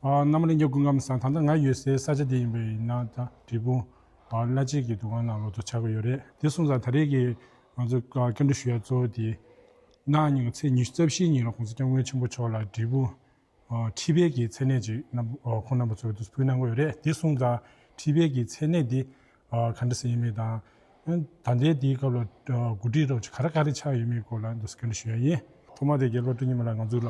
གནམ་རི་ཉག་ཀུན་ཁམས་ས་ད་ལྟ་ང་ཡོད་སའི་ས་ཆ་འདི་ཡིན་པའི་ཡིན་ན་ད་འབྲས་སྤུངས་བླ་སྤྱིད་ཀྱི་དུ་ཁང་ནང་ལོག་ཏུ་ཆགས་ཀྱི་ཡོད་རེད་དེ་གསུངས་ཙང་ད་རེས་ཀྱི་ང་ཚོ་སྐྱབས་འགྲོ་ཞུ་ཡག་གཙོ་བོ་དེ་གནའ་ཉིན་གྱི་ཚེས་ཉི་ཤུ་རྩ་བཞིའི་ཉིན་ལ་གོང་ས་སྐྱབས་མགོན་ཆེན་པོ་མཆོག་ལ་འབྲས་སྤུངས་ཁྲི་བརྒྱད་ཀྱི་མཚན་གནས་ཅིག་ཁོང་རྣམ་པ་ཚོས་བསྡུ་ཕུལ་གནང་གི་ཡོད་རེད་དེ་གསུངས་ཙང་ཁྲི་བརྒྱད་ཀྱི་མཚན་གནས་འདི་ག་འདྲ་ཟེར་ཡོད་མེད་དང་ད་ལྟའི་དེའི་སྐབས་ལ་དགུ་སྒྲིལ་རོགས་གཅིག་ག་ར་ག་རེ་ཆགས་ཡོད་མེད་སྐོར་ལ་འདུ་ཤེས་སྐྱོན་བྲལ་ཞུ་ཡག་ཡིན། ཐོག་མ་དེ་རྒྱལ་པོ་སྤྲུལ་ཉི་མ་ལ་ང་ཚོ་ལ་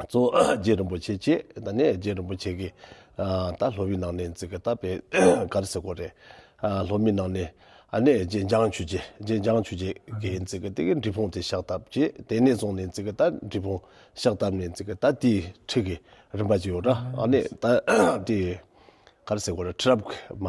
གཙོ་རྗེ་རིན་པོ་ཆེ་བཅས་དང་ནས་རྗེ་རིན་པོ་ཆེ་གིས་ད་ལྷོ་བི་ནང་ནས་འཛིག་གི་ད་བེ་གར་སེ་གོ་རེ། ལྷོ་མི་ནང་ནས་ནས་རྗེ་འཇང་ཆུ་རྗེ་རྗེ་འཇང་ཆུ་རྗེ་གིས་འཛིག་གི་དེ་གི་འབྲི་ཕུང་དེ་ཤག་ཐབ་བཅས་དེ་ནས་བཟུང་ནས་འཛིག་གི་ད་འབྲི་ཕུང་ཤག་ཐབ་ནས་འཛིག་གི་ད་དེའི་ཁྲི་གི་རིམ་པ་བཅས་ཡོད་ར་ཨ་ནས་ད་དེ་གར་སེ་གོ་རེ་ཁྲི་རབས་མ།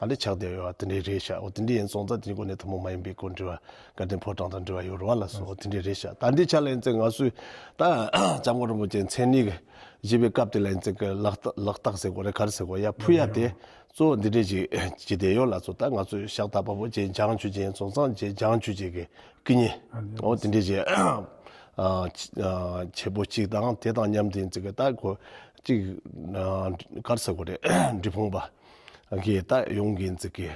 ཨ་ལེ་ཆགས་བསྡད་ཡོད་བ་དེ་འདྲའི་རེད་ཤག་འོ་དེ་འདྲའི་ཡིན་ཙང་ད་དེ་གོ་གནས་ཐུན་མོང་མ་ཡིན་པའི་སྐོར་འདྲི་བ་དགའ་ལྡན་ཕོ་བྲང་དང་འབྲེལ་བ་ཡོད་རེད་བ་ལ་སོགས་འོ་དེ་འདྲའི་རེད་ཤག་ད་འདི་ཆ་ལ་ཡིན་ཙང་ང་ཚོས་ད་ལྕམ་སྐུ་རིན་པོ་ཆེ་མཚན་ཉིད་བཞེས་པའི་སྐབས་དེ་ལ་ཡིན་ཙང་གི་ལག་རྟགས་ཟེར་དགོས་རེད་ག་རེ་ཟེར་དགོས་ཡ་ཕུ་ཡ་དེ་གཙོ་བོ་འདི་འདྲས་ཅིག་བྱས་བསྡད་ཡོད་ལ་སོགས་ད་ང་ཚོས་ཤག་ད་པ་པོ་བྱས་འཇང་ཆོས་རྗེ་ཡིན་ཙང་ཙང་བྱས་འཇང་ཆོས་རྗེ་གི་སྐུ་ཉིད་འོ་དེ་འདྲས་ཅིག་བྱེད་པོ་གཅིག་དང་དེ་དང་མཉམ་དུ་ཡིན་ཙང་གི་ད་གོ་གཅིག་ག་རེ་ཟེར་དགོས་རེད་འབྲི་ཕོངས་པ། གི་རྟགས་ཡོངས་ཀྱི་རྩིས་ཀྱི་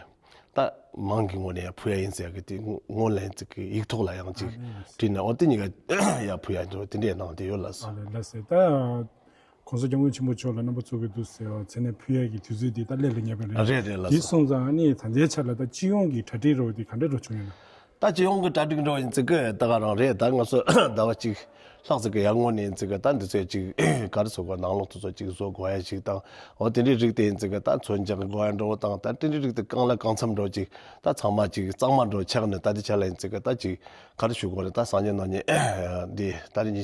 རྟགས་མང་གི་ངོས་ནས་བུ་ཡ་ཡིན་ཟེར་གི་དེ་ངོས་ལེན་རྩིས་ཀྱི་ཡིག་ཐོག་ལ་ཡང་ཅིག་བྲིས་ནས་འོ་དེ་གཉིས་ཀ་ཡ་བུ་ཡ་འདྲ་བ་དེ་འདྲས་གནང་དེ་ཡོད་ལ་སོ། ཨ་ལས་ཟེར་ད ྋགོང་ས ྋསྐྱབས་མགོན་ཆེན་པོ་མཆོག་ལ་རྣམ་པ་ཚོགས་ཀྱི་འདུག་ཟེར་བ་ཚེ་ནས་བུ་ཡ་ཀྱི་དུས་ཚོད་དེ་ད་སླེབས་ལ་ཉེ་བ་རེད། རེད་རེད་ལ་སོ། དེ་སོང་ཙང་ནི་ད་ལྟའི་ཆར་ལ་ད་སྤྱི་ཡོངས་ཀྱི་གྲ་སྒྲིག་རོགས་དེ་ག་འདྲ་རོགས་བྱུང་ཡོད་ན། ད་སྤྱི་ཡོངས་ཀྱི་གྲ་སྒྲིག་འགྲོ་ཡིན་ཚིག་གི་ད་ག་རང་རེད་ད་ང་ཚོ་ཟླ་བ་གཅིག་ལྷག་ཚིག་གི་ཡར་སྔོན་ནས་ཡིན་ཚིག་གི་ད་འདི་ཚོས་ཅིག་ག་རེ་བཟོ་དགོས་ནང་ལོགས་དུ་ཚོ་ཅིག་བཟོ་དགོས་ཡ་ཞིག་དང་འོ་དེ་འདྲའི་རིགས་དེ་ཡིན་ཚིག་གི་ད་ཚོ་འཇག་གི་དགོས་ཡ་འགྲོ་བོ་དང་ད་དེ་འདྲའི་རིགས་དེ་གང་ལ་གང་འཚམས་འགྲོ་ཅིག་ད་ཚང་མ་ཅིག་གཙང་མ་འགྲོ་ཆགས་ནས་ད་འདི་བྱ་ལ་ཡིན་ཚིག་གི་ད་ཅིག་ག་རེ་ཞུ་དགོས་རེད་ད་སངས་རྒྱས་ནང་ཉིད་འདི་ད་རིང་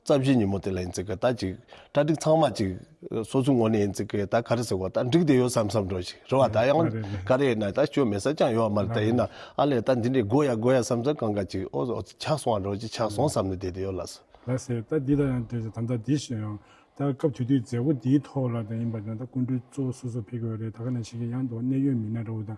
རྩ་བཞི་ཉིན་མོ་དེ་ལ་ཡིན་ཚེ་གདའ་ཅིག། གྲ་སྒྲིག་ཚང་མ་ཅིག། སོ་སོའི་ངོ་ནས་ཡིན་ཚེ་གདའ་ག་རེ་ཟེར་བ་ད་འགྲིག་དེ་ཡོད་བསམ་བསམ་འགྲོ་ཞིག་རེ་བ་ད་ཡང་ག་རེ་ཡིན་ན་ད་སྐྱོན་མེད་ས་ཅང་ཡོད་མ་རེད་ད་ཡིན་ན་ཨ་ལས་ད་འདི་འདྲས་དགོས་ཡ་དགོས་ཡ་བསམ་བསམ་གང་ག་ཅིག་ཨོ་ཨོ་ཆགས་སོང་བ་འགྲོ་ཅིག་ཆགས་སོང་བསམ་ནས་བསྡད་དེ་ཡོད་ལགས་སོ། ལགས་སོ། ད་འདི་ལ་ཡང་འདོད་ཅིག་དམ་བདག་འདི་ཞེས་ཡང་ད་སྐབས་དུས་དུས་མཛད་སྒོ་འདིའི་ཐོག་ལ་ད་ཡིན་པ་ད་ད་སྐུ་མགྲོན་གཙོ་བོ་སོ་སོ་ཕེབས་ཀྱི་ཡོད་རེད་ད་ག་ནས་ཤེས་ཀྱི་ཡང་འདུག་གནད་ཡོད་མི་སྣ་འདྲ་བོ་དང་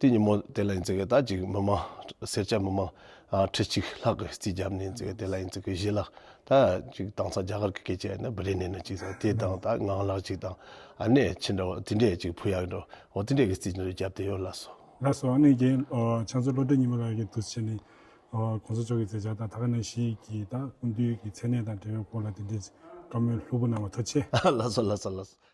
དེ་ཉིན་མོ་དེ་ལ་ཡིན་ཚེ་གེ་དག་ཅིག་མི་མང་སེར་སྐྱ་མི་མང་ཁྲི་གཅིག་ལྷག་གིས་རྩིས་བརྒྱབ་ནས་ཡིན་ཚེ་གེ་དེ་ལ་ཡིན་ཚེ་གེ་བཞི་ལ་ད་ཅིག་དྭངས་གཙང་རྒྱ་གར་གྱི་སྐད་ཆ་ཡིན་ན་བི་རེ་ནས་ནས་ཅིག་ཟེར་དེ་དང་ད་ངང་ལག་ཅིག་དང་ཨ་ནེ་ཁྱི་འདྲ་བོ་དེ་འདྲས་ཅིག་བུ་ཡག་འདྲ་བོ་དེ་འདྲས་གིས་རྩིས་འདྲ་རེ་བརྒྱབ་དེ་ཡོད་ལགས་སོ། ལགས་སོ་ཨ་ནེ་རྒན་ལགས་ཚོ་བློ་གྲོས་ཉི་མ་ལགས་ཀྱིས་དུས་ཆེན་ནི་གོང་ས་མཆོག་གི་མཛད་འཆར་དང་ཐ་ཀ་ནས་ཞིག་གིས་དང་སྐུ་མདུན་གྱི་མཚན་གནས་དང་འབྲེལ་བའི་སྐོར་ལ་དེ་འདྲས་ཀྱི་བཀའ་མོལ་ལྷུག་པོ་གནང་བ་ཐུགས་ཆེ། ལགས་སོ་ལགས་སོ་ལགས་སོ།